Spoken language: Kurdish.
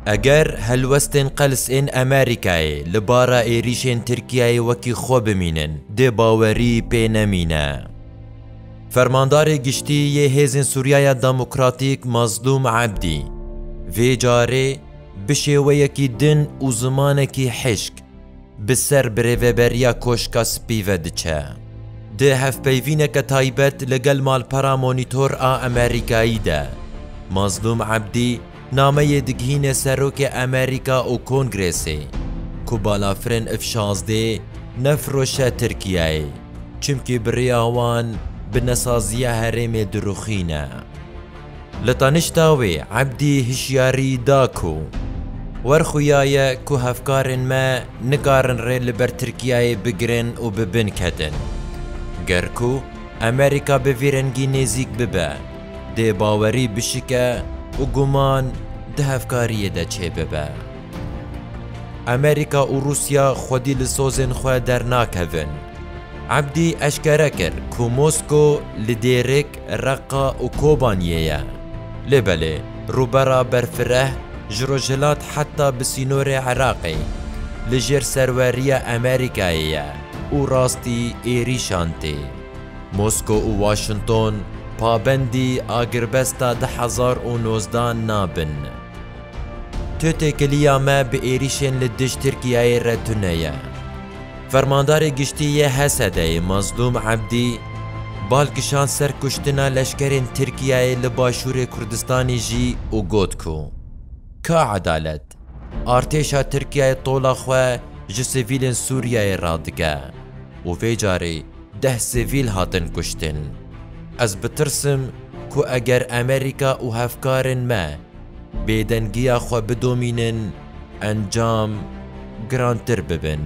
Eger helwestên qels ên Amerîkayê li bara êrîşên Tirkiyeyê wekî xwe bimînin, dê bawerî pê nemîne. Fermandarê Giştî yê Hêzên Sûriyaya Demokratîk Mazlûm Ebdî, vê carê bi şêweyekî din û zimanekî hişk, Bi ser birêveberiya Koşka Spî ve diçe. Di hevpeyvîneke taybet li gel malpera Monîtor a Amerîkayî de, Mazlûm Ebdî nameyê digihîne Serokê Amerîka û Kongrêsê ku balafirên F şazdê nefiroşe Tirkiyeyê çimkî bi riya wan bi nesaziya herêmê dirûxîne. Li tanişta wê Ebdî hişyarî da ku wer xuya ye ku hevkarên me nikarin rê li ber Tirkiyeyê bigirin û bi bin ketin. Ger ku Amerîka bi vî rengî nêzîk bibe, dê bawerî bişike û guman di hevkariyê de çêbibe. Amerîka û Rûsya xwedî li sozên xwe dernakevin. Ebdî eşkere kir ku Mosko li dêrik Reqqa û Kobaniyê ye. Lê belê rûbera berfireh ji rojhilat heta bi sînorê Iraqê li jêr serweriya Amerîkayê ye û rastî êrîşan tê. Mosko û Washington pabendî agirbesta du hezar û nozdeh nabin. Tu têkiliya me bi êrîşên li dij Tirkiyeyê re tune ye. Fermandarê Giştî yê HSD'ê Mazlûm Ebdî bal kişand ser kuştina leşkerên Tirkiyeyê li Başûrê Kurdistanê jî û got ku Ka edalet, artêşa Tirkiyeyê tola xwe ji sivîlên Sûriyeyê radike û vê carê deh sivîl hatin kuştin. Ez bitirsim ku eger Amerîka û hevkarên me Bêdengiya xwe bidomînin, encam girantir bibin.